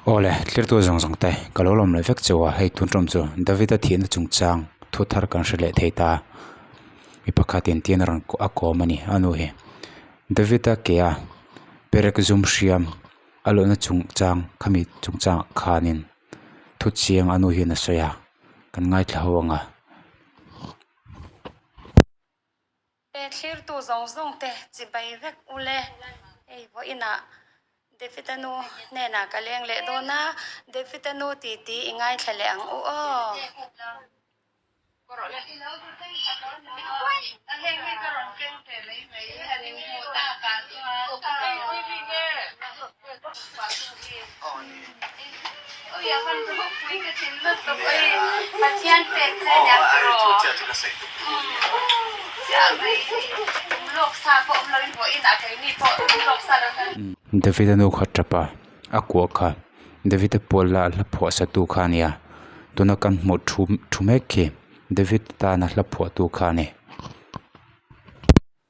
Awle, tlirtu zawng zawng te, ka lo lawm leh vek chu a, hei tun ṭawm chu Davida thihna chung chang thu thar kan hre leh thei ta a, mi pakhat in tîn a rawn a kawm a ni, a nu hi Davida ke a, Perek zum hriam a luhna chung chang khami chung chang khanin thu chiang a nu hian a sawi a, kan ngaithla ho ang a. Pehthlirtu zawng zawng te chibai vek u le, ei vawh in ah Davida nu hnenah ka leng leh dawn a, Davida nu titi i ngaithla leh ang u aw. David-a nu kha tapa, a kuah kha David-a pual la a hla phuahsatu kha a nia, tuna kan hmuh thu thu mek khi David tana hla phuahtu kha a ni.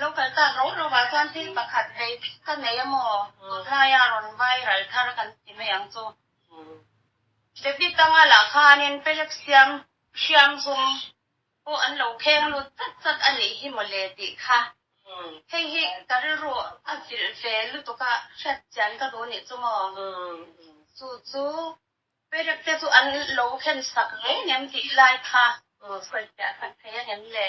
Lo kal ta ro ro vah chuan thil pakhat vei dik ka nei a maw? Tunlaia rawn vai ral thar kan ti mai ang chu. Debit anga lah khanin Pelek siam hriamzum pawh an lo kheng lut zat zat a nih hi maw le tih kha. Hei hi ka rilru a vilh ve lutuk a hriat chian ka duh nih chu maw? Chu chu Pelek te chu an lo khensak reng em tih lai kha sawi piah tak thei a nem le.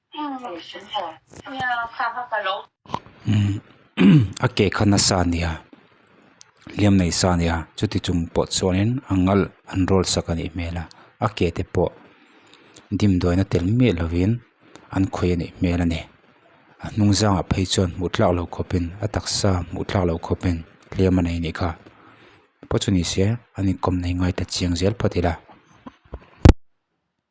A ke kha nasa a nia hliam nei sa a nia chuti chung pawh chuanin a ngalh an roll sak a nih hmel a a ke te pawh dimdawiin a tel miah lovin an khawih a nih hmel a ni a hnung zangah phei chuan hmuh thlak lo khawpin a taksa hmuh thlak lo khawpin hliam a nei a nih kha paw chu ni se an inkawm nei ngai ta chiang zel phawt ila.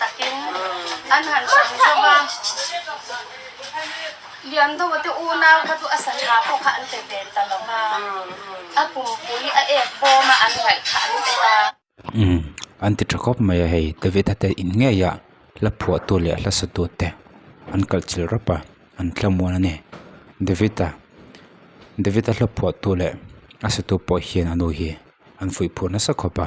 Takin an han hrang zauh a. Lian do te unau kha chu a sangha pawh kha an pe ve ta lo va. A pumpui a ek bawm a an ngaih kha an pe ta. Umm, an ti tha khawp mai a hei. David-a te in ngeia hla phuahtu leh hla satute an kalh chilh rap a, an thlamuan a ni. David-a, David-a hla phuahtu leh a satu pawh hian a nu hi an fuih phur nasa khawp a.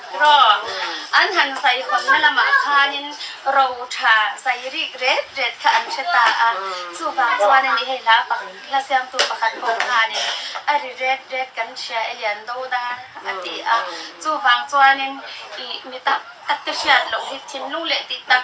Raw an han saikhawnna lamah khanin ro tha sai rih ret ret kha an hre ta a, chuvang chuan ani hei hla pak hla siamtu pakhat pawh khanin a ri ret ret kan hria e lian do dar a ti a, chuvang chuanin ih mi tak tak te hriat loh hi thinlung leh tih tak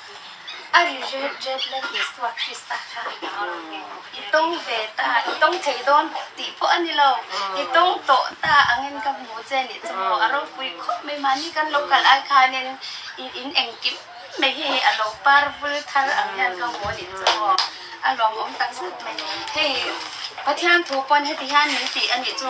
A ri ret ret la Isua Krista kha a la a, i tawng ve ta, i tawng thei dawn tih pawh a ni lo, i tawng tawh ta ang in ka hmu che nih chu maw, a ropui khawp mai mahni kan lo kal ai khanin i in engkim mai hi a lo par vul thar ang hian ka hmu a nih chu maw, a lawmawm tak zet mai, hei Pathian thu pawn heti hian min tih a nih chu.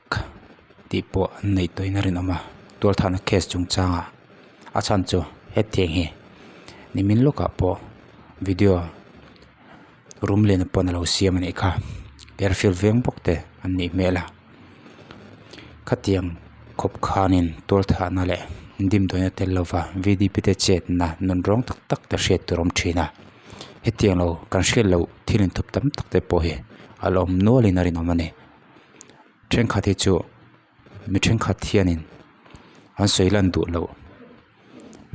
tih pawh an neihtuahin a rinawm a tualthlahna case chung changa a chhan chu hetiang hi nimin lawkah pawh video rum lehna pawn a lo siam a nih kha air field veng bawk te an nih hmel a khatiang khawp khanin tualthlahna leh dim dawina tel lova vdp te chetna nun rawng tak tak te hriat tur a awm thin a hetiang lo kan hriat loh thil inthawp tam tak te pawh hi a la awm nualin a rinawm a ni. thenkhat hi chu mi thenkhat hianin an sawi lan duh loh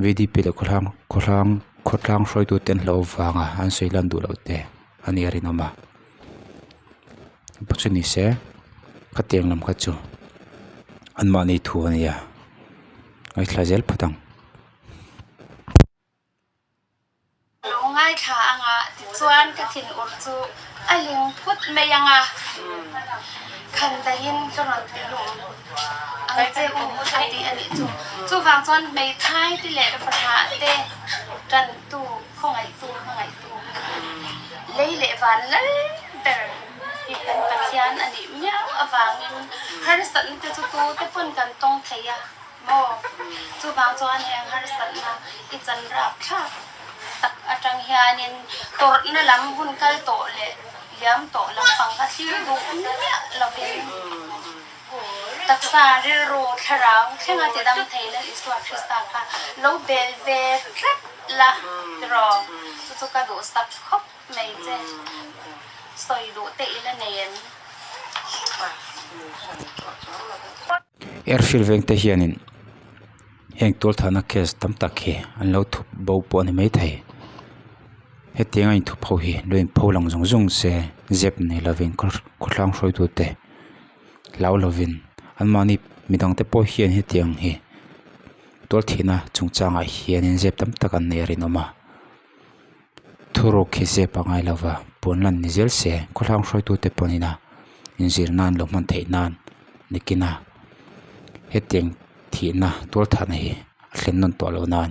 V D P leh khawhlang khawhlang khawtlang hruaitu ten hlauh avanga an sawi lan duh loh te a nih a rinawm a pa chu ni se khatiang lam kha chu an mahni thu a ni a ngaithla zel phawt ang. Lo ngaithla anga tichuan ka thin ur chu a hlim phut mai anga khan dahin ka rawn tluilum ang che u a tih a nih chu. Chuvang chuan hmeithai te leh fahna te tantu, khawngaihtu, hmangaihtu lei leh van lal ber hi kan Pathian a nih miau avangin harsatna te chu tute pawn kan tawng thei a. Maw? Chuvang chuan heng harsatna i chanrap thlak tak atang hianin tawrhna lam hun kal tawh leh liam tawh lampang kha thlir duh miah lovin taksa rilru thlarau thlenga tidang thei lal Isua Krista kha lo bel ve tlat la tiraw? Chu chu ka duhsak khawp mai che. Sawi duh te ila nei em? Er hrilh veng te hian in heng tual thah na case tam tak hi an lo thup bo pawh a ni mai thei hetiang a in thup ho hi lo in pho lang zung zung se zep nei lo vin khaw khaw thlang hruai tu te hlau lo vin an mahni mi dang te pawh hian hetiang hi tual thih na chung chang ah hian in zep tam tak an nen a rinawm a. Thuruk hi zep a ngai lova, puan lan ni zel se, khawhlang hruaitute pawh nina inzir nan lo hman theih nan nikina hetiang thihna tual thahna hi a thlen nawn tawh lo nan.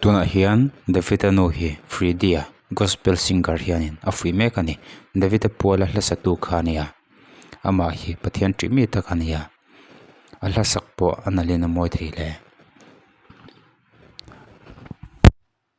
Tunah hian Davita nu hi Freedia Gospel Singer hianin a fuih mek a ni. Davita Puala hlasatu kha a nia. Amah hi Pathian tih mi tak a nia. A hlasak pawh a nalhin a mawi thei hle.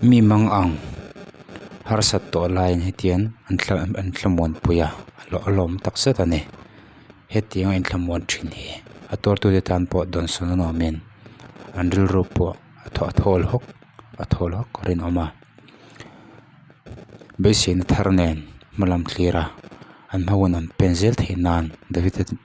mi mang ang harsat tawh laiin hetiang an thla an thlamuan pui a a lawm takzet a ni hetiang a inthlamuan thin hi a tuartute tan pawh dawn sawn a nuamin an rilru pawh a thaw a thawl hawk a thawl hawk a rinawm a basin a thar nen hmalam thlira an hma hunah an pen zel thei nan davit a tih--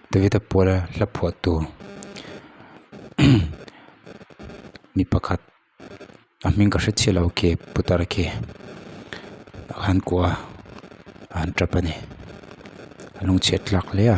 David-a puala hla phuah tu mi pakhat a hming ka hre chiah lo ke putar ke han kuah a a han tap a ni a lung chhiat tlak hle a.